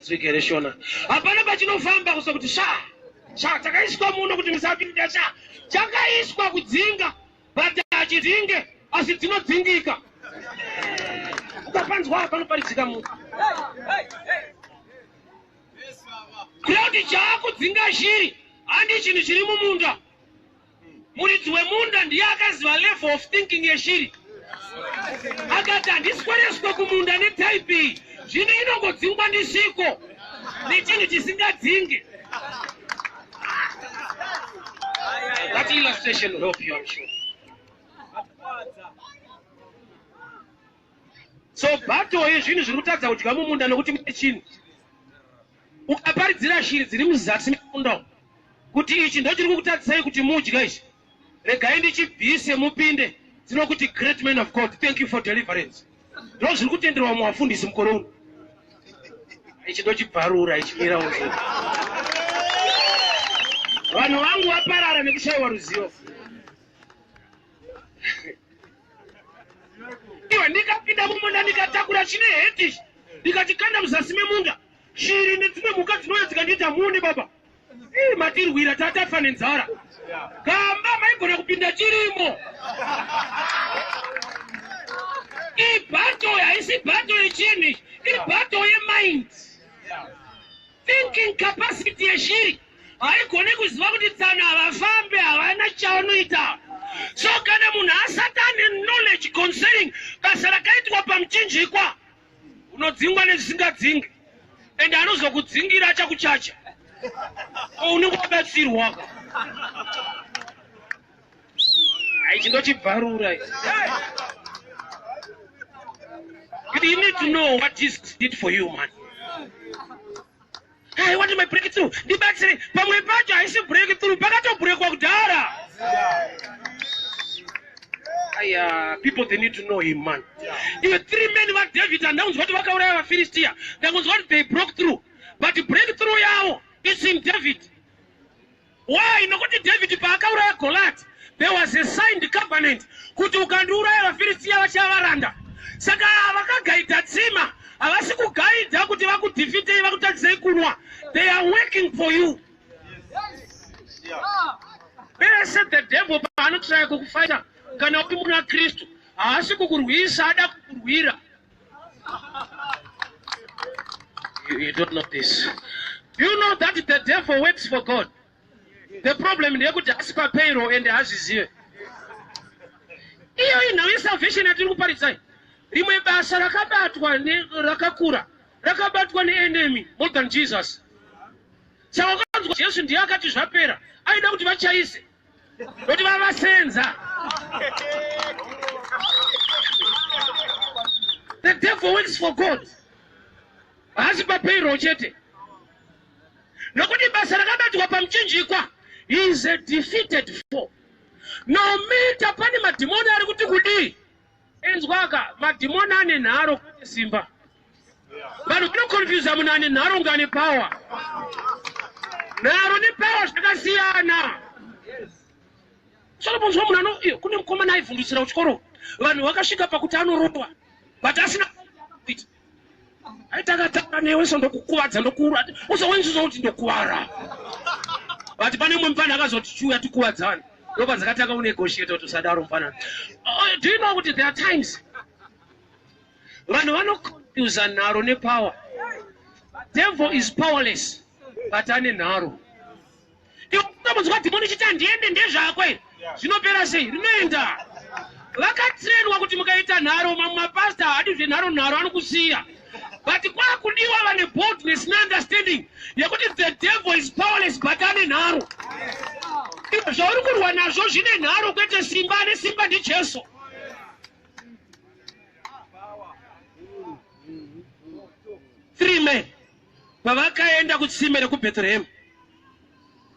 Tsika here Shona? Hapana pachinofamba kusa kuti sha sha chakaiswa muno kuti musapinda sha chakaiswa kudzinga but hachidzinge asi dzinodzingika ukapanzwa hapano paridzika munhu kureva kuti chaakudzinga shiri handi chinhu chiri mumunda Muridzi wemunda ndiye akaziva level of thinking yeshiri. Akati handiswereswe kumunda netype iyi, zvino inongodzingwa ndisviko nechinhu chisingadzinge. That illustration help you, I'm sure. So battle yezvinhu zviri kutadza kudya mumunda nokuti mune chinhu. Ukaparidzira shiri dziri muzasi memunda umu kuti ichi ndochiri kukutadzisai kuti mudya ichi, regai ndichibvise mupinde dzinokuti great man of God, thank you for deliverance. Ndozviri kutenderwa muvafundisi mukore uno. Ichi ndochibvarura ichimira uno. Vanhu vangu vaparara nekushaiwa ruzivo. iwe ndikapinda mumunda ndikatakura chine hetish ndikatikanda muzasi memunda shiri nedzimwe mhuka dzinouya dzikandiita mune baba ii matirwira tatafa nenzara gamba maigona kupinda chirimo ibato haisi bato yechinhu ibato yemind thinking capacity yeshiri haigone kuziva kuti tsano havafambe havana chaunoita so kana munhu asati ane knowledge concerning basa rakaitwa pamuchinjikwa unodzingwa nezvisingadzingwe and anozokudzingira achakuchacha ko unenge wabatsirwaka haichi ndochibvarura kuti you need to know what jesus did for you man I want my breakthrough. Ndibatsire. Pamwe pacho haisi breakthrough, pakatobrekwa kudhara. Aya, people they need to know him man. Iwe three men va David andakunzwa kuti vakauraya vaFilistia. Ndakunzwa kuti they broke through. But breakthrough yavo is in David. Why? Nokuti David paakauraya Goliath, there was a signed covenant kuti ukandiuraya vaFiristia vachava varanda. Saka vakagaidha tsima havasi kugaidha kuti vakudhifitei vakutadzisei kunwa. They are working for you. Pese the devil paanotsvaya kukufaita kana uri muna Kristu haasi kukurwisa ada kukurwira You, you don't know this. Do you know that the devil works for God? The problem ndeyekuti hasi papayroll and hazvizive. Iyo inhau yesalvation yatiri kuparidzai. Rimwe basa rakabatwa rakakura rakabatwa neenemy more than Jesus. Saka ukanzwa Jesu ndiye akati zvapera aida kuti vachaise Kuti vavasenza. The devil works for God. Haasi papayroll chete. Nokuti basa rakabatwa pamuchinjikwa is a defeated foe. No matter pane madhimoni ari kuti kudii. Inzwaka, madhimoni ane nharo kune simba. Vanhu vanokonfyuza munhu ane nharo kunge ane pawa. Nharo nepawa zvakasiyana. Solomonzwa munhu ano, iyo kune mukomana aivhundutsira kuchikoro. Vanhu vakasvika pakuti anorowa. But asina kuita. aitakataura newe so ndokukuvadza ndokuura usa wenziso kuti ndokuvara but pane umwe mfana akazoti chiuya tikuvadzana ndopa dzakatanga kunegotiata kuti usadaro mfana oh, do you know kuti there are times vanhu vanoconfusa nharo nepower devil is powerless but ane nharo unombonzwa dhimoni chiti handiende ndezvako iri zvinopera sei rinoenda vakatrenwa kuti mukaita nharo mamwe mapasta haadi zvenharo nharo anokusiya but kwakudiwa vane boldness neunderstanding yekuti the devil is powerless but ane nharo ivo zvauri kurwa nazvo zvine nharo kwete simba ane simba ndijesu three men Pavakaenda kutsime rekuBhetrehema,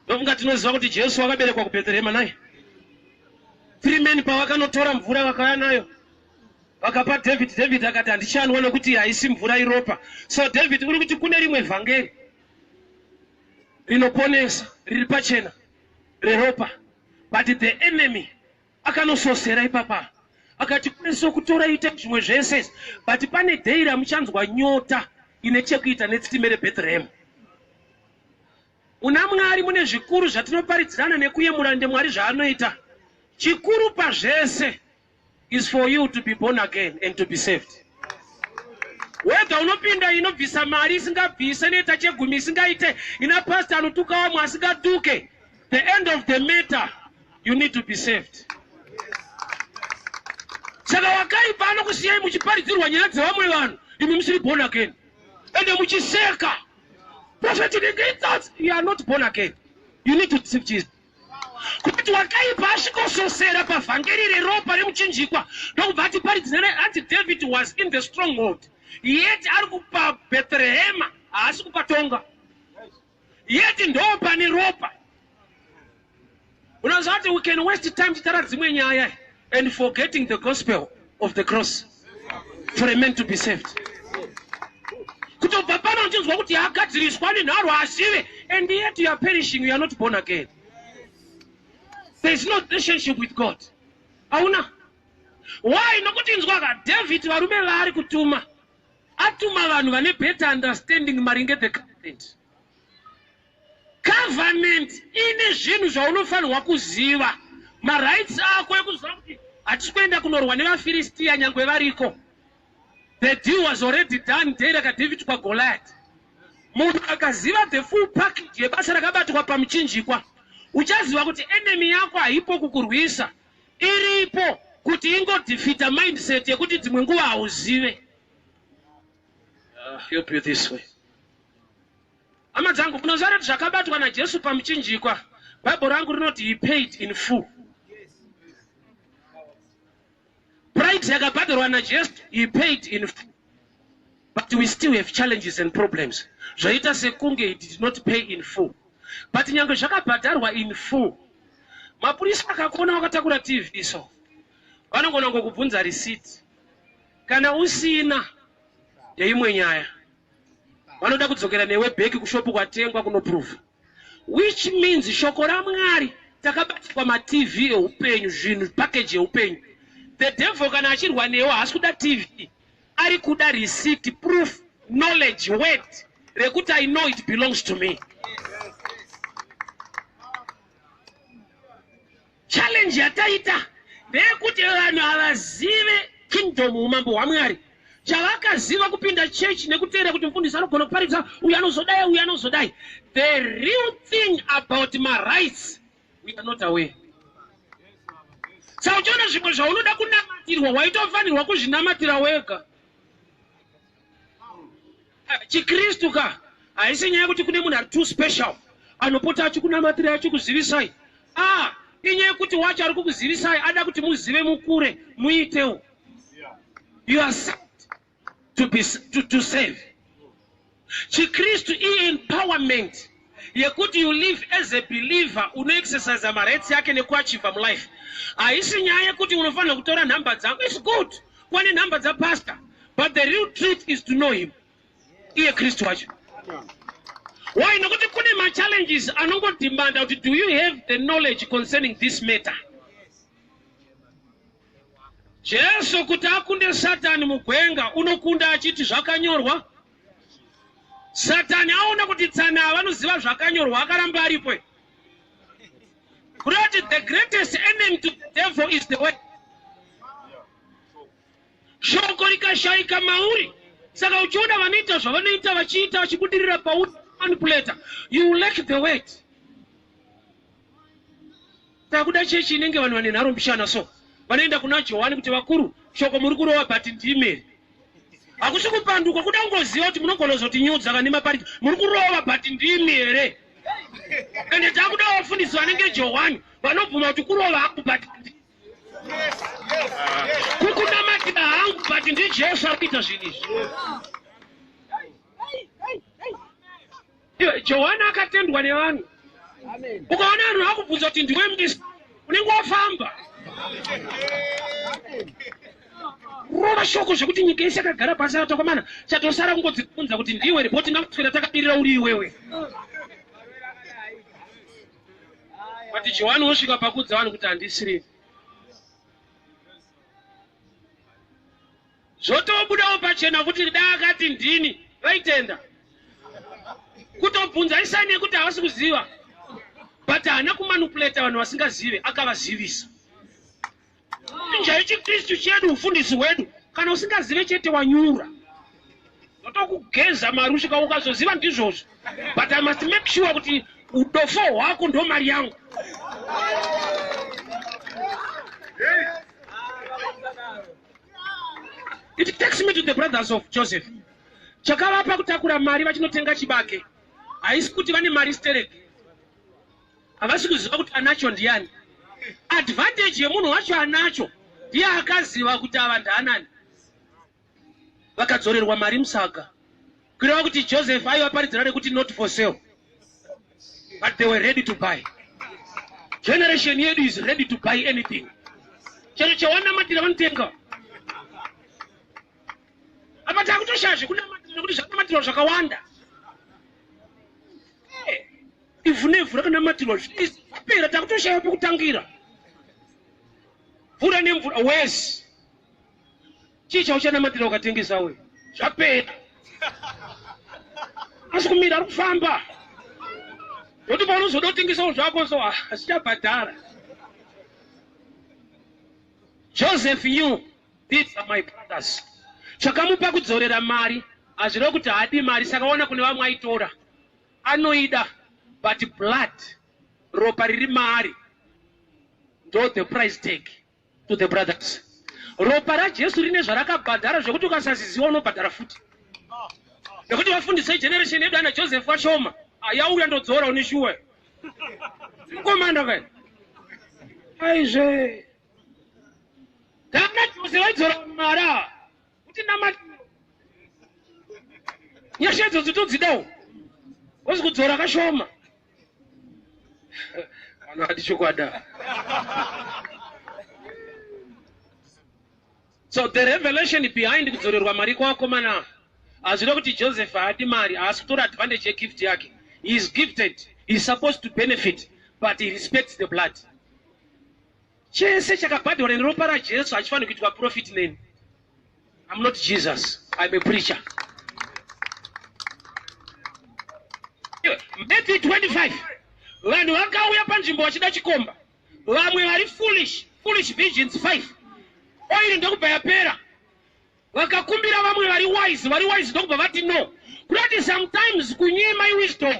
ndofunga tinoziva kuti Jesu wakaberekwa kuBhetrehema naye. Three men pavakanotora mvura vakauya nayo vakapa David, David akati handichanwa nokuti haisi mvura iropa. So David uri kuti kune rimwe vhangeri rinoponesa riri pachena reropa but the enemy Akanososera ipapa akati kune so kutora ita zvimwe zvese but pane day ramuchanzwa nyota ine chekuita netsime reBethlehem. Muna Mwari mune zvikuru zvatinoparidzirana nekuyemura ndemwari zvaanoita. Chikuru pazvese is for you to be born again and to be saved. Wega unopinda inobvisa mari isingabvise inoita chegumi isingaite ina pastor anotuka wamwe asingatuke the end of the matter you need to be saved saka wakaipa anokusiyai muchiparidzirwa nyaya dzevamwe vanhu imi musiri born again ende muchiseka profeti unenge itsotsi you are not born again you need to deceive jesus kuti wakaipa asvikososera pavhangeri reropa remuchinjikwa ndokubva ati paridzina hanzi david was in the stronghold yet ari kupa bethlehema haasi kupatonga yet ndoo pane ropa unoziva kuti we can waste time titara dzimwe nyaya and forgetting the gospel of the cross for a man to be saved kutobva pano uchinzwa kuti agadziriswa nenharo asive and yet you are perishing you are not born again there is no relationship with god hauna why nokuti nzwaka david varume vaari kutuma atuma vanhu vane better understanding maringe the government government ine zvinhu zvaunofanirwa kuziva marights ako ekuziva kuti hatisi kuenda kunorwa nevafiristiya nyangwe variko the deal was already done day rakadavid kwagoliat munhu akaziva the full package yebasa rakabatwa pamuchinjikwa uchaziva kuti enemy yako haipo kukurwisa Iripo kuti ingo defeater mindset yekuti dzimwe nguva hauzive. Uh, help you this way. Hama dzangu, munoziva kuti zvakabatwa naJesu pamuchinjikwa, Bible rangu rinoti he paid in full. Price yakabhadharwa naJesu, he paid in full. but we still have challenges and problems zvaita sekunge he did not pay in full but nyange zvakabhadharwa in full mapurisa akakuona wakatakura tv so vanogona ngokubvunza receipt kana usina yeimwe nyaya vanoda kudzokera newe bheki kushopu kwatengwa kunoprova Which means shoko raMwari takabatirwa maTV ehupenyu zvinhu package yehupenyu. The devil kana achirwa newe haasi kuda TV ari kuda receipt proof knowledge word rekuti I know it belongs to me. Challenge yataita ndeyekuti vanhu havazive kingdom umambo hwaMwari. Chavakaziva kupinda church nekuteera kuti mfundisi anogona kuparidza uyu anozodai uyu anozodai. The real thing about my rights we are not aware. Saka uchiona zvimwe zvaunoda kunamatirwa waitofanirwa kuzvinamatira wega. Chikristu ka haisi nyaya yekuti kune munhu ari too special anopota achikunamatirai achikuzivisai a inyaya yekuti wacho ari kukuzivisai ada kuti muzive mukure muitewo you are saved to, be, to, to save chikristu iempowerment yekuti you live as a believer unoexercise marights yake nekuachiva mulife haisi nyaya yekuti unofanira kutora nhamba dzangu its good kuva nenhamba dzapastor but the real truth is to know him iye kristu wacho why nokuti kune machallenges anongodimanda kuti do you have the knowledge concerning this matter jesu kuti akunde satani mugwenga unokunda achiti zvakanyorwa Satani aona kuti tsana ava vanoziva zvakanyorwa akaramba aripo. Kuda kuti the greatest enemy to the devil is the word. Shoko rikashaika mauri saka uchiona vanoita zvavanoita vachiita vachibudirira pauri manipulator you lack the word. Takuda chechi inenge vanhu vane nharo mbishana so vanoenda kuna Johani kuti vakuru shoko muri kurova but ndimi here? Hakusi kupanduka kuda kungoziva kuti munogona kuzotinyudza kana nemapariki muri kurova but ndimi here? Ende takuda vafundisi vanenge Johani vanobvuma kuti kurova hangu but kukunamatira hangu but ndiJesu ari kuita zvinhu izvi. Johani akatendwa nevanhu. Ukaona vanhu vakubvunza kuti ndiwe mdisi, unenge wafamba. Rova shoko zvekuti nyika yese yakagara pasi yatokomana, chatosara kungodzibvunza kuti ndiwe here, boti ngakuswera takabirira uri iwewe. Vati Johani wosvika pakudza vanhu kuti handisiri. Zvotobudawo pachena kuti dai akati ndini vaitenda. Kutobvunza isani yekuti havasi kuziva but haana kumanupuleta vanhu vasingazive akavazivisa. Chinja ichiKristu chedu ufundisi hwedu kana usingazive chete wanyura. Ndotokugeza marushika ukazoziva ndizvozvo but I must make sure kuti udofo hwako ndo mari yangu. it takes me to the brothers of joseph chakavapa kutakura mari vachinotenga chibage haisi kuti vane mari sterek havasi kuziva kuti anacho ndiyani advantage yemunhu wacho anacho ndiye akaziva kuti ava ndaanani vakadzorerwa mari musaga Kureva kuti Joseph aivaparidzira nekuti not for sale but they were ready to buy. Generation yedu is ready to buy anything. Chero chawanamatira vanotenga. Apa takutoshaya zvekunamatira nekuti zvakunamatirwa zvakawanda. Eh, ivhu nevhu rakanamatirwa zvapera takutoshaya pekutangira. Mvura nemvura worse. Chii chauchanamatira ukatengesa we? Zvapera. Asi kumira ari kufamba. Noti paunozoda kutengesawo zvako so hazichabhadhara. Ah, Joseph knew these are my brothers. Chakamupa kudzorera mari hazvireva kuti haadi mari saka waona kune vamwe aitora. Anoida but blood ropa riri maari ndo the price tag to the brothers ropa rajesu rine zvarakabhadhara zvekuti ukasaziziwa unobhadhara futi nekuti vafundisei generation yedu ana joseph vashoma yauya ndodzora une shuwa mukomana kai aizve kana jose vaidzora mara Kuti namati. Nyasha idzodzo todzidawo. Wozi kudzora kashoma. Vanhu vati chokwada. So the revelation behind kudzorerwa mari kwakomana hazvida kuti Joseph haadi mari haasi kutora advantage yegift yake. He is gifted. He is supposed to benefit but he respects the blood. Chese chakabhadharwa neropa raJesu hachifaniri kuitwa profit neni. I'm not Jesus. I'm a preacher. Matthew 25. Vanhu vakauya panzvimbo vachida chikomba. Vamwe vari foolish, foolish virgins 5. Oil ndokubva yapera. Vakakumbira vamwe vari wise, vari wise ndokubva vati no. Kunoti sometimes kunyima iwisdom.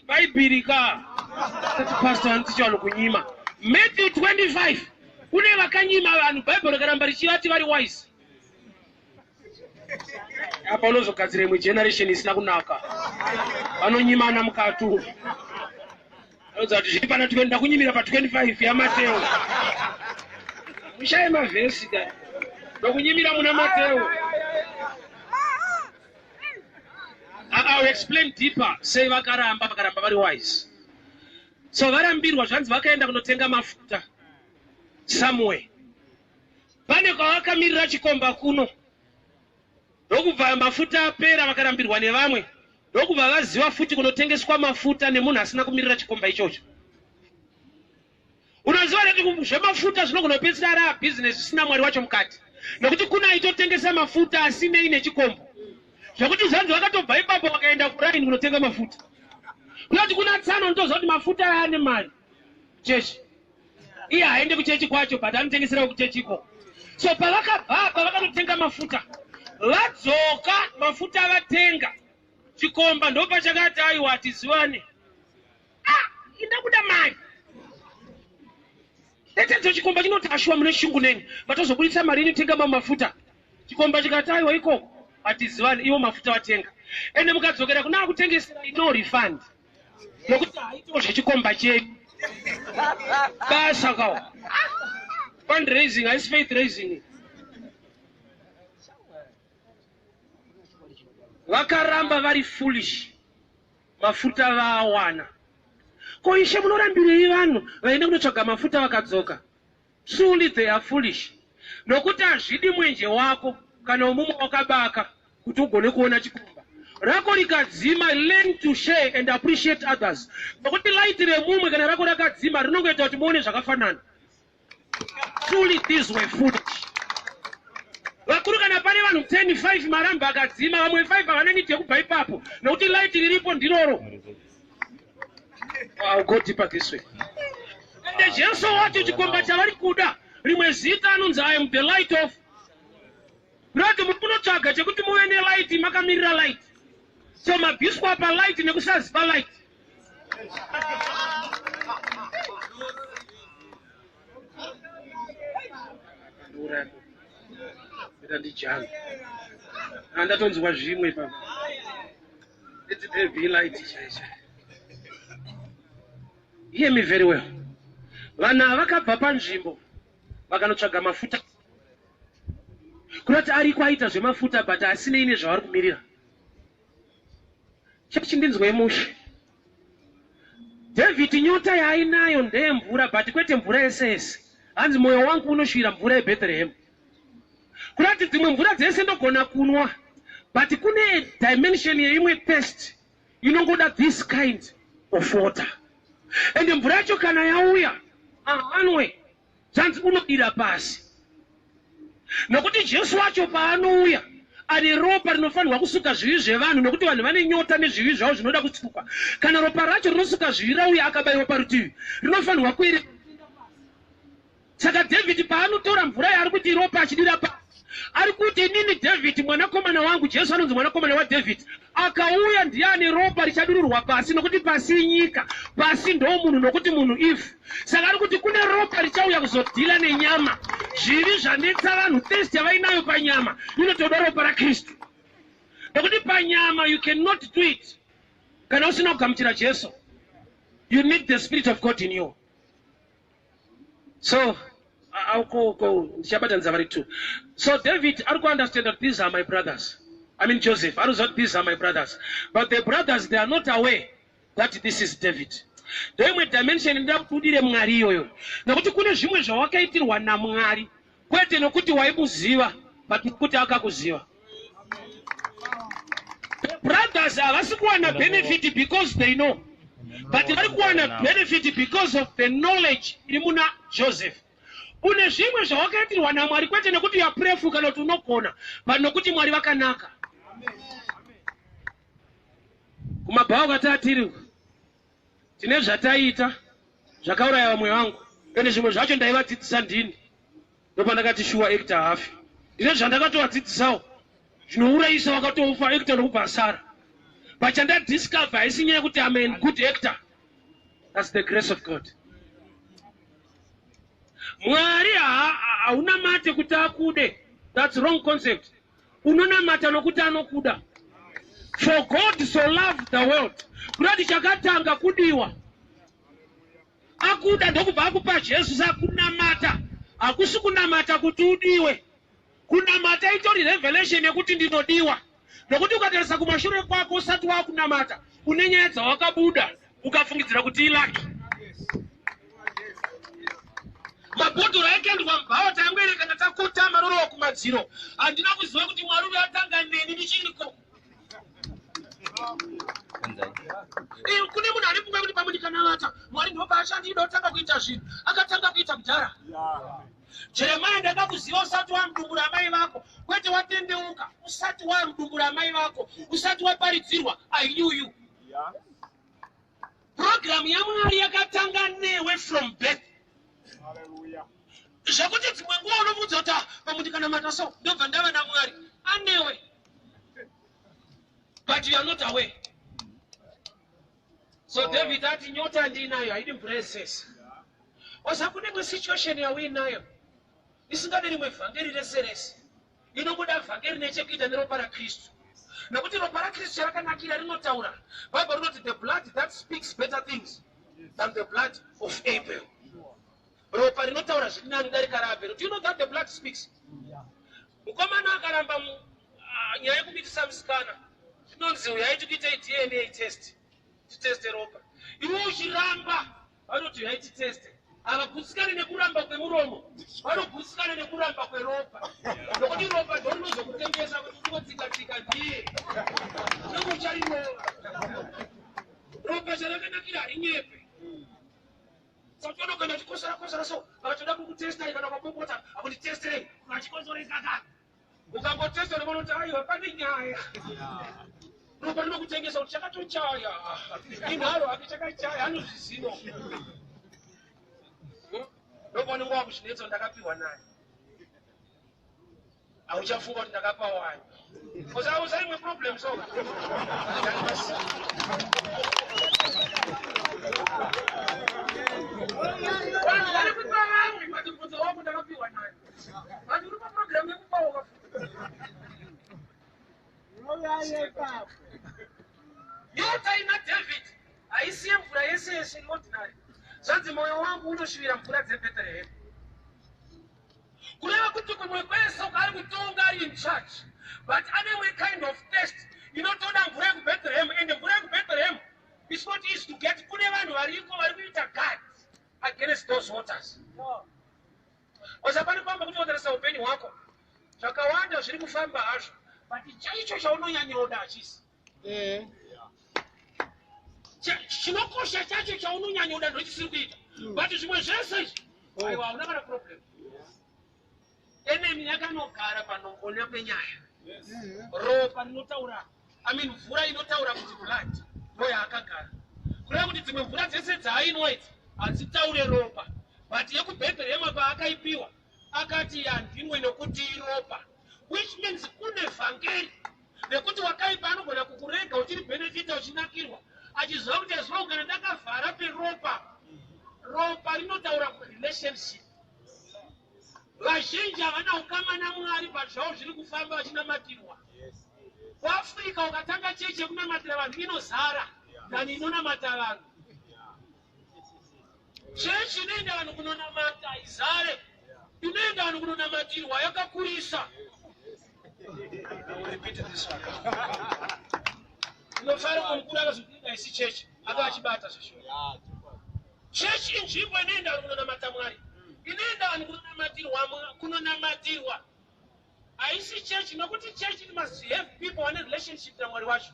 Bhaibhiri ka. Kati pastor anotiti vanhu kunyima. Matthew 25. Kune vakanyima vanhu Bhaibheri rikaramba richivati vari wise. Apa unozogadzira imwe generation isina kunaka. Vanonyimana mukati umu. Anoudza kuti zviri pana 20 ndakunyimira pa 25 yaMateo. Mushaye mavhesi ka. Ndokunyimira muna Mateo. I'll explain deeper sei vakaramba vakaramba vari wise. So varambirwa zvanzi vakaenda kunotenga mafuta somewhere. Pane kwavakamirira chikomba kuno. Ndokubva mafuta apera vakarambirwa nevamwe. ndokubva vaziva futi kunotengeswa mafuta nemunhu asina kumirira chikomba ichocho unoziva kuti zvemafuta zvinogona kupedzisira ari abhizinesi zvisina mwari wacho mukati nekuti kuna aitotengesa mafuta asinei nechikombo zvekuti zvanzi vakatobva ipapo vakaenda kuraini kunotenga mafuta kunoti kuna tsano ndoziva kuti mafuta aya ane mari chechi iye haende kuchechi kwacho but anotengeserawo kuchechi iko so pavakabva apa vakanotenga mafuta vadzoka mafuta avatenga chikomba ndopachakati aiwa hatiziwane ah, inda kuda mari etedzo chikomba chinoti ashuwa mune shungu neni vatozobudisa mari inotenga mamwe mafuta chikomba chikati aiwa ikoko hatizivani iwo mafuta vatenga ende mukadzokera kuna akutengesera ino refund nokuti haitawo zvechikomba chenyu basa kawo fundraising haisi faith raising vakaramba vari foolish mafuta vaawana ko ishe munorambirei vanhu vaenda kunotsvaga mafuta vakadzoka Truly they are foolish nokuti hazvidi mwenje wako kana wemumwe wakabaka kuti ugone kuona chikomba rako rikadzima. Learn to share and appreciate others nokuti light remumwe kana rako rakadzima rinongoita kuti muone zvakafanana. Truly these were foolish. Vakuru kana pane vanhu 10 5 maramba akadzima vamwe 5 havana need yekubva ipapo nokuti light riripo ndiroro. I'll go deeper this way. And Jesu wacho chikomba chavari kuda rimwe zita anonzi I am the light of Rati muri kunotsvaga chekuti muve nelight makamirira light so mabviswa pa light nekusaziva light Ita ndijana. Andatonzwa zvimwe papa. Let there be light chai chai. Hear me very well. Vanhu ava vakabva panzvimbo vakanotsvaga mafuta. Kurati ariko aita zvemafuta but asinei nezvavari kumirira. Chechi ndinzwei mushe. David nyota yaainayo ndeyemvura but kwete mvura yese yese. Hanzi moyo wangu unoshuvira mvura yeBethlehem. Kunati dzimwe mvura dzese ndogona kunwa but kune dimension yeimwe thirst inongoda this kind of water and mvura yacho kana yauya ahanwe zvanzi unodira pasi nokuti Jesu wacho paanouya ane ropa rinofanirwa kusuka zvivi zvevanhu nokuti vanhu vane nyota nezvivi zvavo zvinoda kutsukwa kana ropa racho rinosuka zvivi rauya akabaiwa parutivi rinofanirwa kuerera Saka Dhavhidhi paanotora mvura yaari kuti iropa achidira pasi, ari kuti inini Dhavhidhi, mwanakomana wangu, Jesu anonzi mwanakomana waDhavhidhi, akauya ndiye ane ropa richadururwa pasi, nokuti pasi inyika, pasi ndoomunhu, nokuti munhu ivhu. Saka ari kuti kune ropa richauya kuzodhila nenyama. Zvivi zvanetsa vanhu, thirst yavainayo panyama inotoda ropa raKristu, nokuti panyama you cannot do it kana usina kugamuchira Jesu. You need the Spirit of God in you. So ndichabatanidza vari two. So David ari kuunderstand that these are my brothers. I mean Joseph ari kuziva kuti these are my brothers. But the brothers they are not aware that this is David. Ndoimwe dimension inoda kutudire Mwari iyoyo. Nokuti kune zvimwe zvawakaitirwa naMwari. kwete nokuti waimuziva but nokuti akakuziva the brothers havasi kuwana benefit because they know but vari kuwana benefit because of the knowledge iri muna joseph une zvimwe zvawakaitirwa namwari kwete nekuti yapurefu kana kuti unogona but nokuti mwari vakanaka kumabhawa kwati atiri Tine zvataiita zvakauraya vamwe vangu ende zvimwe zvacho ndaivadzidzisa ndini. Ndopandakati shuwa Ekita haafi. Ndine zvandakatovadzidzisawo zvinourayisa wakatofa Ekita ndokubva asara. But chandadiscover haisi nyaya yekuti I'm a good actor. That's the grace of God. Mwari haunamate kuti akude. That's wrong concept. unonamata nokuti anokuda for god so loved the world kurati chakatanga kudiwa akuda ndokubva akupa jesu sakunamata hakusi kunamata kuti udiwe kunamata itori revelation yekuti ndinodiwa nokuti ukatarisa kumashure kwako usati wakunamata une nyaya dzawakabuda ukafungidzira kuti ilaki mabhodhoro aikandwa mubhawa taingoerekana takotama rorova kumadziro handina kuziva kuti mwari uyo atanga neni ndichiriko eh, kune munhu ari funga kuti pamwe ndikanavata mwari ndopaashandida otanga kuita zvinhu akatanga kuita kudhara jeremaya ndanga kuziva usati wamudumbura amai vako kwete watendeuka usati wamudumbura amai vako usati waparidzirwa i knew you purogiramu yamwari yakatanga newe from birth zvekuti dzimwe nguva unomudza kuti pamuti kana mata so ndobva ndava namwari anewe but you are not aware so oh. david ati nyota ndiinayo haidi mvura yesese osa kune mwe situation yauinayo isingade rimwe vhangeri rese rese Ndinogoda vhangeri rine chekuita neropa raKristu. Nekuti ropa raKristu charakanakira rinotaura. Bhaibheri rinoti the blood that speaks better things than the blood of Abel. Ropa rinotaura zviri nani kudarika raAbel. Do you know that the blood speaks? Mukomana akaramba ah, nyaya yekumitisa musikana. Zvinonzi uyaiti kuita DNA test. Titeste ropa. Iwe uchiramba Vanoti haiti teste havagutsikane nekuramba kwemuromo vanogutsikana nekuramba kweropa nokuti ropa ndorinozokutemesa kuti ungotsikatsika ndiye unenge ucharinova ropa charakanakira harinyepe satono kana chikosarakosara so vakatoda kukutestai kana kwapopota akunditestirei vachikonzorei kakaka Ukangotesta unoona kuti aiwa pane nyaya. Ropa rinokutengesa kuti chakatochaya. Inharo hake chakachaya anozviziva. Ropa unenge wakuchinetsa ndakapihwa nani. Hauchafunga kuti ndakapa wani. Because I was having a problem so. Vanhu vari kupa vamwe madhokodheya wangu ndakapihwa nani. Vanhu uri pa program yekubonga. Royal Papa. Nyota ina David haisiye mvura yese yese in ordinary. Zvanzi moyo wangu unoshivira mvura dzeBethlehem. Kureva kuti kumwe kwese kwaari kutonga ari in charge but ane we kind of test inotoda mvura yekubethlehem and mvura yekubethlehem is not easy to get kune vanhu variko vari kuita guard against those waters. No. Bcause hapana pamba kuti watarisa upenyu hwako zvakawanda zviri kufamba hazvo but chaicho chaunonyanyoda hachisi mm. chinokosha chacho chaunonyanyoda ndochisiri kuita mm. but zvimwe zvese izvi oh. aiwa hauna kana problem enemy yakanogara panongona penyaya mm-hmm. ropa rinotaura I mean mvura inotaura kuti blood ndoyaakagara kureva kuti dzimwe mvura dzese dzaainwa idzi hadzitaure ropa but yekubhebherema paakaipiwa akati handinwe nokuti iropa which means kune vhangeri nekuti wakaipa anogona kukurega uchiri benefita uchinakirwa achiziva kuti aziva kugara ndakavhara peropa ropa rinotaura kurelationship Vazhinji havana ukama naMwari pazvavo zviri kufamba vachinamatirwa. KuAfrica ukatanga chechi yekunamatira vanhu inozara than inonamata vanhu. Chechi inoenda vanhu kunonamata izare, inoenda vanhu kunonamatirwa yakakurisa. chechi inzvimbo inoenda vanhu kunonamata mwari inoenda vanhu kunonamatirwa kunonamatirwa haisi chechi nokuti chechi must have people vane relationship namwari wacho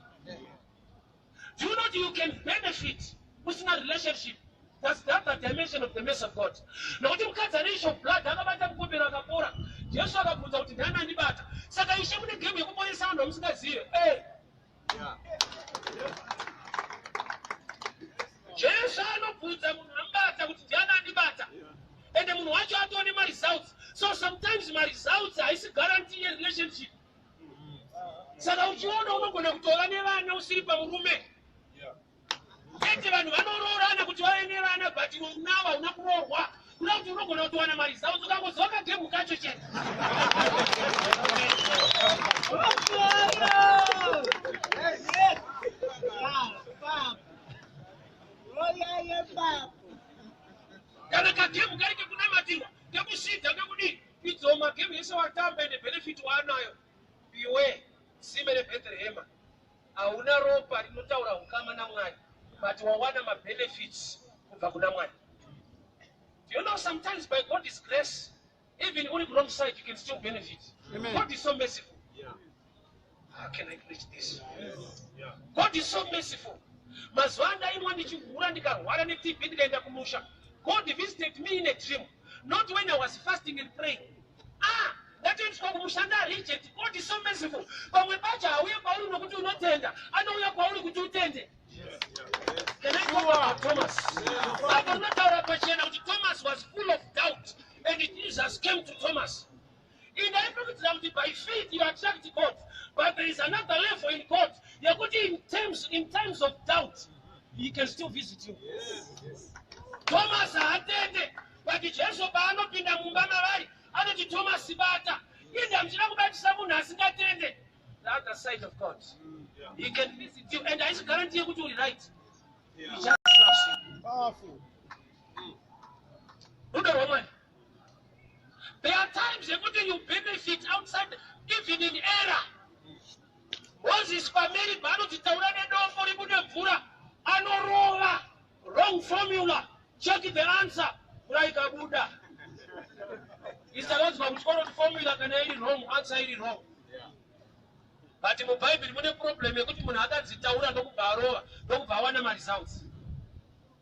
Do you know that you can benefit usina relationship? That's the other dimension of the mercy of God. Nokuti mukadzi ane issue of blood akabata mukombero akapora. Jesu akabvunza kuti ndani andibata. Saka ishe mune game yekuponesa vanhu vamusingazive. Eh. Jesu anobvunza munhu ambata kuti ndiani andibata. And munhu wacho atoone maresults. So sometimes maresults haisi guarantee yerelationship. saka uchiona unogona kutova nevana usiri pamurume chete vanhu vanoroorana kuti vave nevana but iwe unawo hauna kuroorwa kuda kuti unogona kutowana mari zao ukangoziva kagemu kacho chete kana kagemu kari kekunamatira Idzo magame ese watamba ende benefit waanayo iwe tsime rebethlehema hauna ropa rinotaura ukama namwari but wawana mabenefits kubva kuna mwari you know sometimes by god is grace even uri wrong side you can still benefit Amen. god is so merciful yeah. How can I preach this? God is so merciful. Mazuva andainwa ndichihura ndikarwara neTB ndikaenda kumusha. God visited me in a dream. Not when I was fasting and praying. Ah, ndatoendeswa kumusha ndareject. God is so merciful. Pamwe pacho hauye kwauri nokuti unotenda. Anouya kwauri kuti utende. Can I talk about Thomas? Bible rinotaura pachena kuti Thomas was full of doubt and Jesus came to Thomas. And I promise them that by faith you attract God. But there is another level in God. Yekuti in terms in times of doubt, he can still visit you. Thomas haatende, but Jesu paanopinda mumba mavari, anoti Thomas bata. Ende hamuchina kubatisa munhu asingatende. The other side of God. He can visit you and haisi guarantee yekuti uri right. He just loves you. Powerful. Rudo rwemwene. There are times yekuti you benefit outside even in error. Moses pameri paanoti taura nedofo ribude mvura anorova wrong formula check the answer mvura ikabuda isakadzwa kuti kwanoti formula kana iri wrong answer iri wrong but mubhaibheri mune problem yekuti munhu akadzitaura ndokubva arova ndokubva awana maresults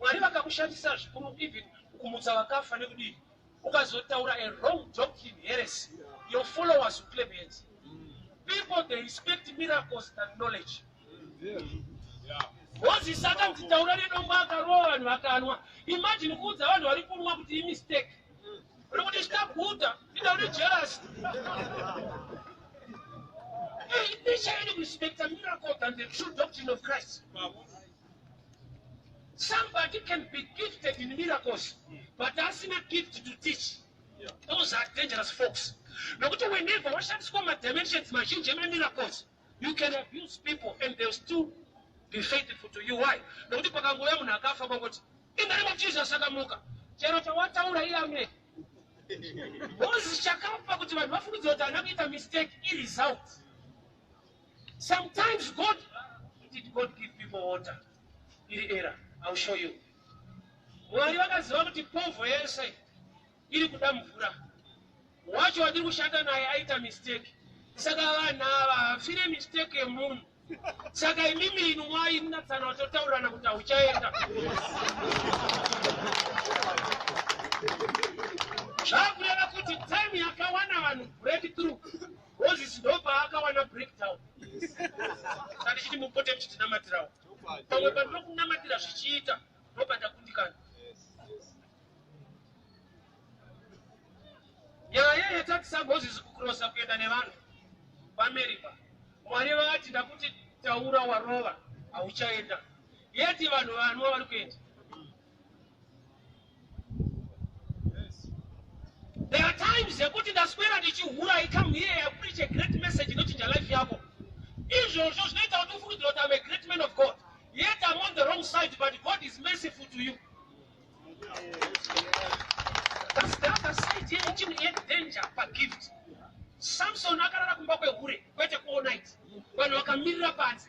Mwari vakakushandisa zvikuru even kumutsa vakafa nekudii ukazotaura a wrong doctrine heresy your followers will claim heads people they respect miracles than knowledge moses akanzi taura nedombo akarowa vanhu vakanwa imagine kuudza vanhu vari kunwa kuti imistake uri kuti chitaguta inda une jealous Hey, they shall respect the miracle than the true doctrine of Christ. Somebody can be gifted in miracles, but that's not gift to teach. Yeah. Those are dangerous folks. Nokuti whenever washandiswa madimensions mazhinji emiracles, you can abuse people and they'll still be faithful to you. Why? Nokuti pakangouya munhu akafa kwangoti, in the name of Jesus akamuka. Chero chawataura iye amene. Moses chakapa kuti vanhu vafungidzira kuti ana kuita mistake iresult. Sometimes God, did God give people water? Iri era, I'll show you. Mwari vakaziva kuti povho yese iri kuda mvura. Wacho wadiri kushanda naye aita mistake. Saka vanhu ava hafire mistake yemunhu. Saka imimi inu mwai munatsana watotaurana kuti hauchaenda. Zvakureva kuti time yakawana vanhu breakthrough Moses ndopaakawana breakdown saka ndichiti mupote muchitinamatirawo pamwe pandinokunamatira zvichiita ndopandakundikana nyaya yatakisa moses kukurosa kuenda nevanhu paamerica mwari vati ndakuti taura warova hauchaenda yeti vanhu vanwa vari kuenda There are times yekuti ndaswera ndichihura I come here I preach a great message inochinja life yako. Izvozvo zvinoita kuti ufungidzira kuti I'm a great man of God. Yet I'm on the wrong side but God is merciful to you. That's the other side here chini ye danger pa gift. Samson akarara kumba kwehure kwete kuona it. Vanhu vakamirira panze.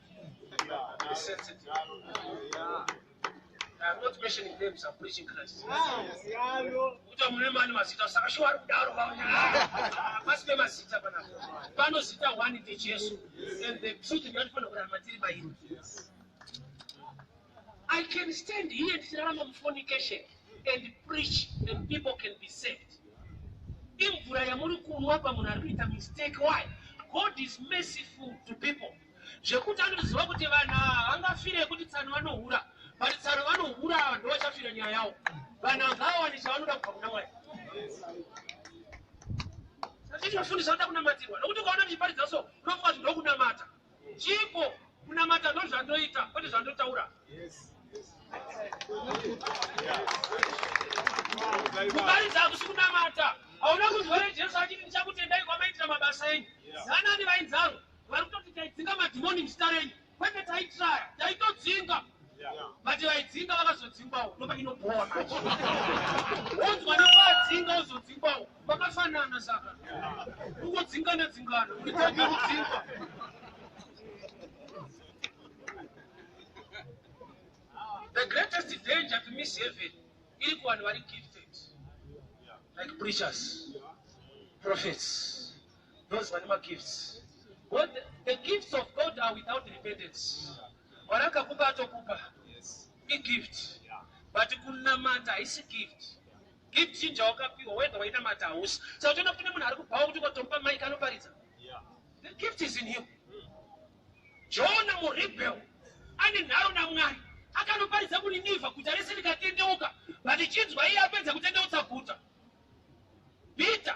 I can stand here and tell them fornication and preach and people can be saved. imvura yamuri kunwa pamunhu ari kuita mistake why god is merciful to people zvekuti anoziva kuti vanhu ava vangafire yekuti tsano vanohura but tsano vanohura ava ndovachafira nyaya yavo vanhu ava ngavawane chavanoda kubva kuna mwari satichivafundisa vanoda kunamatirwa nokuti ukaona ndichiparidza so unofunga kuti ndokunamata chipo kunamata ndozvandoita kwete zvandotaura kuparidza hakusi kunamata hauna kunzwa jesu achiti ndichakutendai kwamaitira mabasa enyu zanani vainzaro Varikutoti taidzinga madhimoni muzita renyu. Kwete taitraya, taitodzinga. Vati vaidzinga vakazodzingwawo, ndopa inobhowa manje. Wonzwa nekwaadzinga wozodzingwawo, kwakafanana saka. Kungodzingana dzingana, unitanga kudzingwa. The greatest danger to miss heaven iri kuvanhu vari gifted like preachers, prophets, those vane magifts God, the, the gifts of God are without repentance mwari akakupa atokupa igift but kunamata haisi gift gift chinja wakapiwa wega wainamata hausi saka uchiona kune munhu ari kubhawa kuti ukatomupa mike anoparidza the gift is in him jona muribel ane nharo namwari akanoparidza kuniniva guta rese rikatendeuka but chinzwa iye apedza kutendeutsa guta peter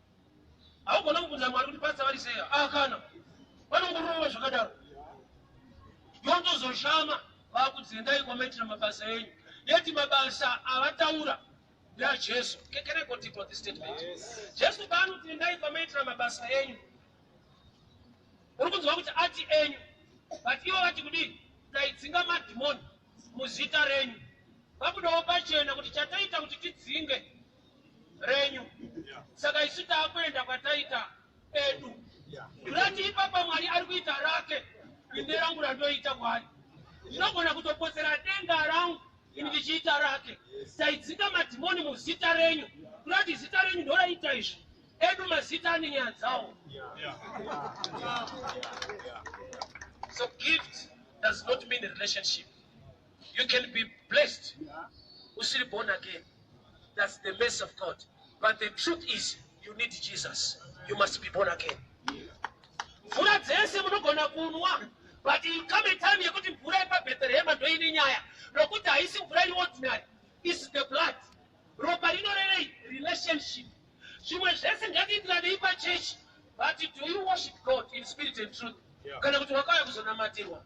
haugona kubvunza mwari kuti patsa vari sei a ah, kana vanongorova zvakadaro yotozoshama vakudzendai kwamaitira mabasa enyu yeti mabasa avataura ndeajesu jesu paanodzendai kwamaitira mabasa enyu uri kunzwa kuti ati enyu but ivo vati kudii taidzinga madhimoni muzita renyu vabudawo pachena kuti chataita kuti tidzinge renyu saka isu taakuenda kwataita edu rati ipapa mwari ari kuita rake ine rangu randoita mwari ndinogona kutopotsera denga rangu ini ndichiita rake taidzika madhimoni muzita renyu rati zita renyu ndoraita izvi edu mazita ane nyaya dzawo so gift does not mean relationship You can be blessed usiri born again. That's the mercy of God. But the truth is you need Jesus. You must be born again. Mvura dzese munogona kunwa but you come a time yekuti mvura yepabheterehema ndoine nyaya nokuti haisi mvura iri ordinary is the blood ropa rinorevei relationship zvimwe zvese ngatiitiranei pachechi but do you worship god in spirit and truth kana kuti wakauya kuzonamatirwa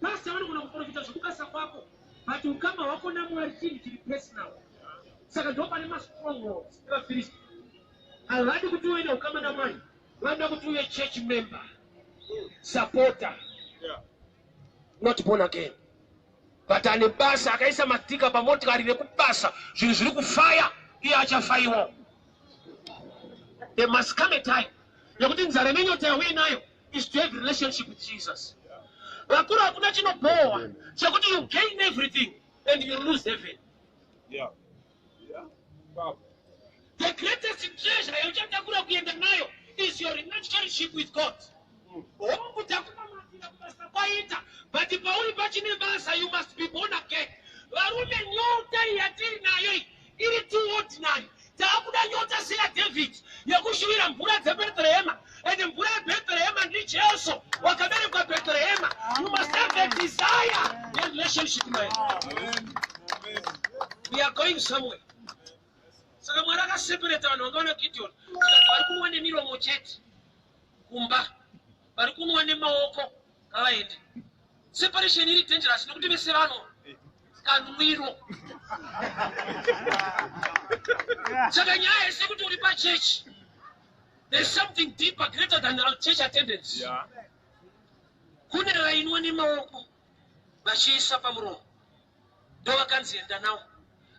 Pastor vanogona kuprofita zvekubasa kwako but ukama hwako naMwari chinhu chiri personal. Saka ndipo pane mastrongholds evaFirist. Havadi kuti uve neukama naMwari, vanoda kuti uve church member, supporter, not born again. But ane basa akaisa matika pamotikari nekubasa zvinhu zviri kufaya iye achafaiwa. There must come a time yekuti nzara nenyota yauye nayo is to have relationship with Jesus. Vakuru hakuna chinobhowa chekuti you gain everything and you lose heaven. Yeah. Yeah. Wow. The greatest treasure yauchatakura kuenda nayo is your relationship with God. Mm. Hongu takunamatira kubasa kwaita but pauri pachine basa you must be born again. Varume nyota yatiri nayo Iri too ordinary. Taakuda nyota seya David yekushuvira mvura dzeBethlehema and mvura yeBethlehema ndiJesu wakaberekwa Bethlehema. You must have a desire and relationship naye. We are going somewhere. Saka Mwari akaseparate vanhu vanga vana Gideon tikati vari kunwa nemiromo chete kumba vari kunwa nemaoko ngavaende Separation iri dangerous nekuti vese vano kanwiro. Saka nyaya yese kuti uri pa church. There's something deeper greater than our church attendance. Yeah. Kune vainwa nemaoko vachiisa pamuromo. Ndovakanzi enda nawo.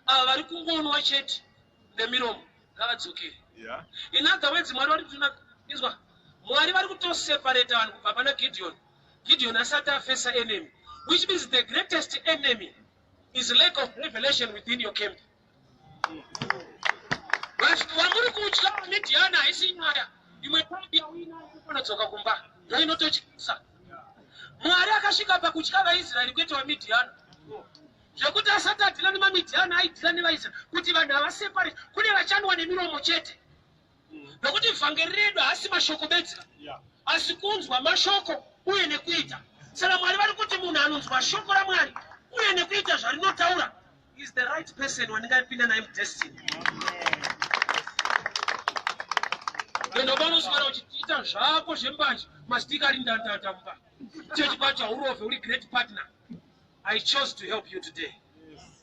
Ava vari kungonwa chete nemiromo ngavadzokere. Yeah. In other words Mwari vari kuti inzwa Mwari vari kutoseparate vanhu kubva pana Gideon. Gideon asati afesa enemy which means the greatest enemy is lack of revelation within your camp vamuri kutya vamidhiana haisi nyaya imwe kambi yawina inofanodzoka kumba ndo inototyisa mwari akasvika pakutya vaisraeri kwete vamidhiana zvekuti asati adhila nemamidhiana aidhila nevaisraeri kuti vanhu havaseparate kune vachanwa nemiromo chete nokuti vhangeri redu haasi mashoko bedzi asi kunzwa mashoko uye nekuita saka mwari vari kuti munhu anonzwa shoko ramwari uye nekuita zvarinotaura is the right person wandingapinda naye mudestiny enda panoswera uchiita zvako zvembanje mastika ari ndandanda mumba chechi pacho haurove uri great partner i chose to help you today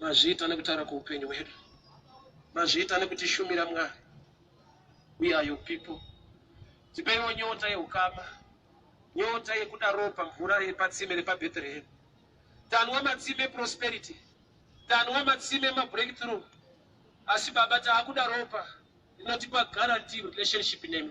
Mazviita nekutaura kweupenyu hwedu. Mazviita nekutishumira Mwari. We are your people. Tipeiwo nyota yehukama. Nyota yekuda ropa mvura repatsime repaBethlehem. Tanwa matsime prosperity. Tanwa matsime mabreakthrough. Asi Baba taakuda ropa rinotipa guarantee relationship nemi.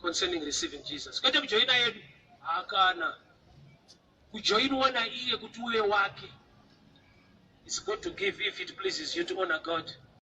concerning receiving jesus kwete kujoina yedu hakana kujoinwa naiye kuti uve wake its good to give if it pleases you to honor god